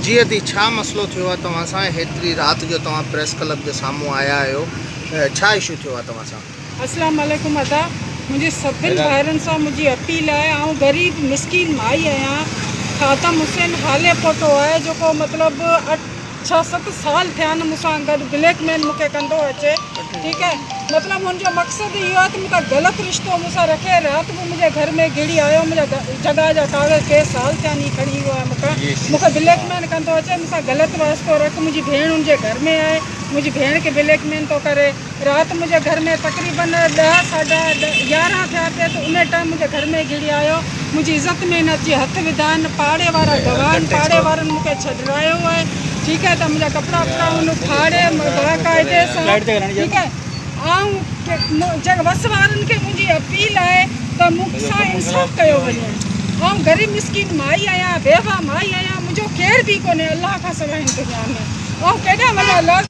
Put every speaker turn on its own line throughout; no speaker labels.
جي ادي ڇا مسئلو ٿيو آ توهان سان هيتري رات جو توهان پريس ڪلب جي سامهون آيا آهيو ڇا اشو ٿيو آ توهان سان. اسلام عليڪم ادا
منهنجي سڀن ڀائرن سان منهنجي اپيل آهي آئون غريب مسڪين مائي آهيان خاتم حسين حالي پوٽو آهي جيڪو مطلب اٺ ڇهه ست سال ٿيا آهن مون سان گڏ بليڪ ميل مون کي ڪندو اچي ٺيڪ آهي مطلب ان جو مقصد اهو آهي ته مون سان غلط رشتو مون سان رکي رات به منهنجي گهر ۾ گهڙي آيو منهنجا جڳهه جا ڪاغذ ڪيس سال ٿيا آهن هي کڻي ويو آهي مون کان مون کي بليڪ ميل ڪندو اچي مون سان غلط واسطو رک منهنجي ڀيڻ ان جي گهر ۾ آهي منهنجي ڀيڻ کي بليڪ ميل ٿو ڪري رات منهنجي گهر ۾ تقريباً ڏهه ساڍا يارهن ٿيا پي ته انهي ٽائيم منهنجي گهر ۾ گهڙي آيو منهنجي عزت ۾ نه اچي هٿ وڌائين پاڙي وارا گواهن پاڙي وارن مون کي ڇڏرايو آهي ٺيڪ آهي ته منهنجا ڪپڙا وپڙا هن ڦاڙي باقاعدي سان ٺيڪ آهي آئون جنهن وس وارن کي منهنجي اپيل آهي ته مون سان انصاف ڪيو وڃي آئون غريب مسڪين مائي آهيان بيوه مائي آهيان منهنجو ڪير به ڪونهي الله کان سواء هن دنيا ۾ آئون ڪيڏانهن وڃان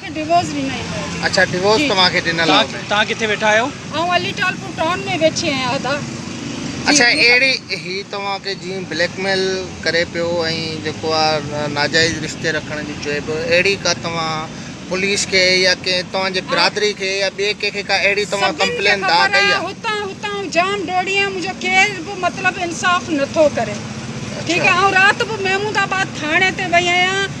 ڊوورس ڏنل
آهي. اڇا ڊوورس توهان کي
ڏنل آهي. توهان توهان ڪٿي ويٺا
آهيو. آئون علي ٽال پور
ٽائون ۾ ويٺي آهيان ادا. اڇا
اهڙي هي توهان کي جيئن بليڪ ميل ڪري پيو ۽ جيڪو آ ناجائز رشتي رکڻ جي چوي پيو اهڙي ڪا توهان پوليس کي يا ڪنهن توهان جي برادري کي يا ٻي ڪنهن کي ڪا اهڙي توهان ڪمپلين دا ڪئي آ. هتان هتان آئون جام
ڊوڙي آيم منهنجو ڪير به مطلب انصاف نٿو ڪري ٺيڪ آ آئون رات به محمود آباد ٿاڻي تي وئي آهيان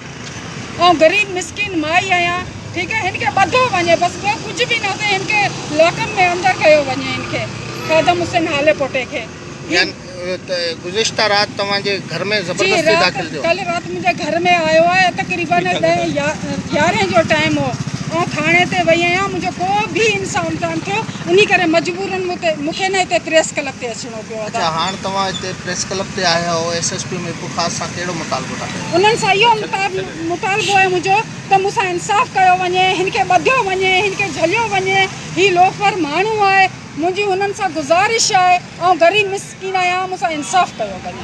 آئون غريب مسڪين مائي آهيان ٺيڪ آهي هن کي ٻڌو وڃي بس ٻيو ڪجهه به نه سهي هن کي لاڪن ۾ اندر ڪيو وڃي هن کي خادم حسين هالي پوٽي کي يعني ته
گذشته رات توهان جي گهر ۾ زبردستي داخل ٿيو ڪل رات منهنجي گهر
۾ آيو آهي تقريبن ڏهين يارهين جو ٽائيم هو آئون ٿاڻي تي وئي آهيان منهنجو ڪو به انصاف ڪانه ٿيو انهي ڪري مجبورن مون تي مون کي نه هتي پريس ڪلب تي اچڻو اڇا هاڻ توهان هتي
پريس ڪلب تي آيا آهيو S S P Mirpur Khas سان ڪهڙو مطالبو ٿا ڪيو. انهن سان اهو
مطالبو آهي منهنجو ته مون سان انصاف ڪيو وڃي هن کي ٻڌيو وڃي هن کي جهليو وڃي هي لوفر ماڻهو آهي منهنجي هنن سان گذارش آهي آئون غريب مسڪين آهيان مون سان انصاف ڪيو وڃي.